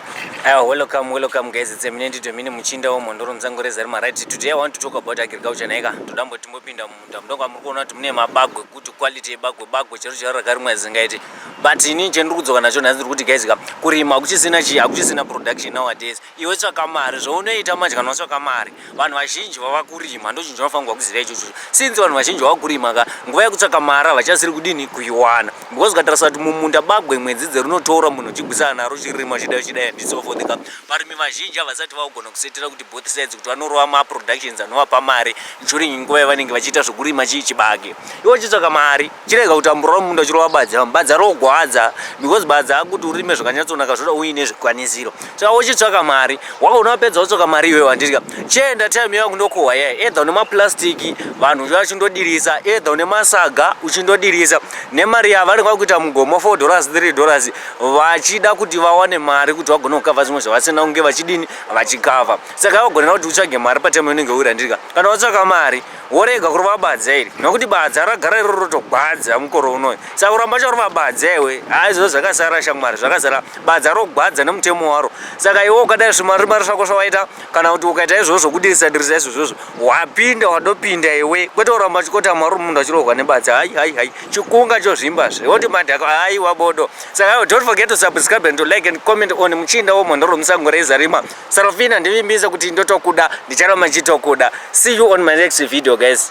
Aiwa, welcome, welcome guys, it's Eminent Domini Muchinda wemhondoro muzango rezari maright. Today I want to talk about agriculture naika. Toda mbo timbopinda mumunda mudonga muri kuona kuti mune mabagwe kuti quality yebagwe bagwe chero chero rakarimwa zingaiti. But ini chendiri kudzoka nacho nhasi ndiri kuti guys ka kurima hakuchisina chi hakuchisina production nowadays. Iwe tsvaka mari zvounoita manje kana watsvaka mari. vanhu vazhinji vava kurima ndochinhu chinofanirwa kuziva ichocho since vanhu vazhinji vava kurima ka nguva yekutsvaka mari havachasiri kudini kuiwana because ukatarisa kuti mumunda bagwe mwedzi dzerunotora munhu uchigwisana naro chirima chidai chidai and so forth ka varimi vazhinji havasati vakugona kusetera kuti both sides kuti vanorova maproductions anovapa mari during nguva yavanenge vachiita zvekurima chii chibage ivo chitsvaka mari Chirega kutambura mumunda uchirova badza. Badza rogwadza because badza akuti urime zvakanyatsonaka zvoda uine zvikwanisiro. Saka wochitsvaka mari. Wakaona wapedza wotsvaka mari iwewe wandidya. Chienda time yangu ndokohwa yeye. Either une maplastiki vanhu vachindodirisa, either une masaga uchindodirisa. Nemari yavo vanenge vakuita mugomo 4 dollars 3 dollars vachida kuti vawane mari kuti vagone kukava zvimwe zvavasina kunge vachidini vachikava. Saka vagonera kuti utsvage mari patime inenge uri wandidya. Kana watsvaka mari worega kurova badza iri nokuti badza ragara iroro rotogwadza mukoro unoyi saka kuramba chakurova badza iwe aizvo zvakasara shamwari zvakasara badza rogwadza nemutemo waro saka iwe ukadai zvimari mari zvako zvawaita kana kuti ukaita izvozvo kudirisa dirisa izvo zvozvo wapinda wadopinda iwe kwete kuramba chikota mwari munhu achirohwa nebadza hai hai hai chikunga chozvimba zve woti madhako hai wabodo saka don't forget to subscribe and to like and comment on muchinda womhondo romusango reizarima Sarafina ndivimbise kuti ndotokuda ndicharamba ndichitokuda see you on my next video guys.